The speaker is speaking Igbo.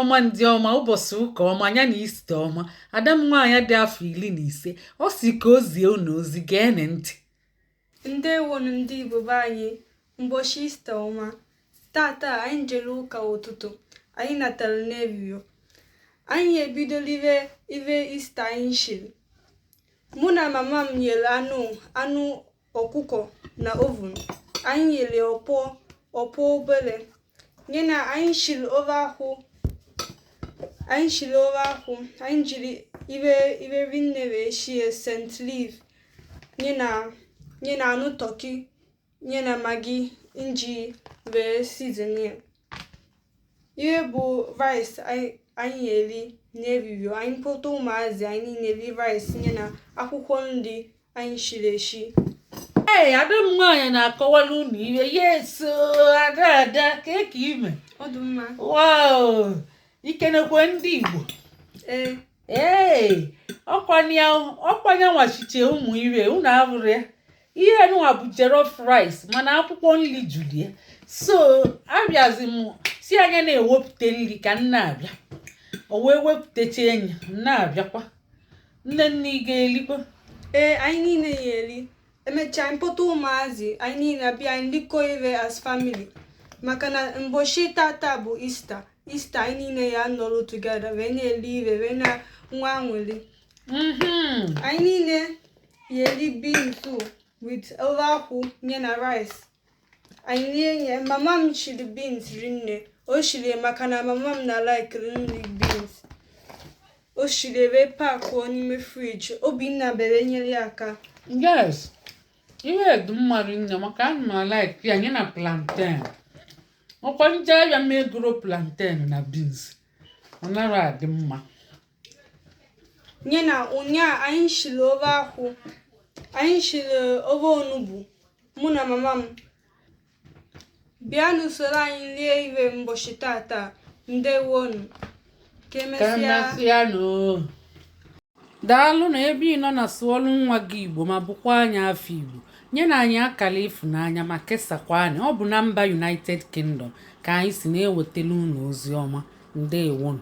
ọma ndị ọma ụbọchị ụka ọma nya na easter ọma ada m nwaanyị dị afọ iri na ise ọ sị ka o zie unu ozi geenị ntị ndewonu ndị igbo be anyị mbọchị easter ọma tata anyị jere ụka ụtụtụ anyị natara n'ehihie anyị ebido lie ive easter anyị shiri mụ na mama m yere anụ anụ ọkụkọ na oven anyị yere puff puff obere nya na anyị shiri ofe akwụ anyị shiri ofe akwụ anyị jiri ive ive rinne wee shie scent leaf nya na nya na anụ turkey nya na maggi m ji wee season ya ihe bụ rice anyị na-eri n'ehihie anyị kpọta ụmụazị anyị na-eri rice nya na akwụkwọ nri anyị shiri eshi ee ada m nwaanyị na-akọwara unu ihe yes o ada ada kee ka i me wow i kenekwe ndị Igbo ee ee ọ kwa nya nwa shiche ụmụ ive unu abụrụ ya ihe nụwa bụ jollof rice mana akwụkwọ nri juru ya so abịazi m sị ya na-ewepụta nri ka m na-abịa o wee wepụtacha anyị na-abịakwa nne nne ị ga-erikwa ee anyị niile ya-eri emechaa mpụta ụmụazị anyị niile abịa anyị likọọ ive as family maka na mbọchị tata bụ easter easter anyị niile ya-anọrọ together wee na-eri ive wee na-enwe anwụrị anyị niile ya-eri beans o with ofe akwụ nya na rice anyị rie nye mama m shiri beans rinne o shiri ya maka na mama m na-alike iri nri beans o shiri wee packụọ n'ime fridge obinna bere nyere ya aka yes ihe dị mma rinne maka ana m alike ya nya na plantain ọ kwa m jee ahịa m egoro plantain na beans ọ na-adị mma nya na ụnyaa anyị shiri ofe akwụ anyị shiri ofe onugbu mụ na mama m bịa na-esoro anyị rie ive mbọchị tata ndewonu ka emesịa daalụ na ebe ị nọ na sụọlụ nwa gị igbo ma bụkwa onye afọ igbo nyenụ anyị akara ịfụnanya ma kesakwa anyị ọ bụ na mba united kingdom ka anyị si na-ewetara unu ozi ọma ndewonu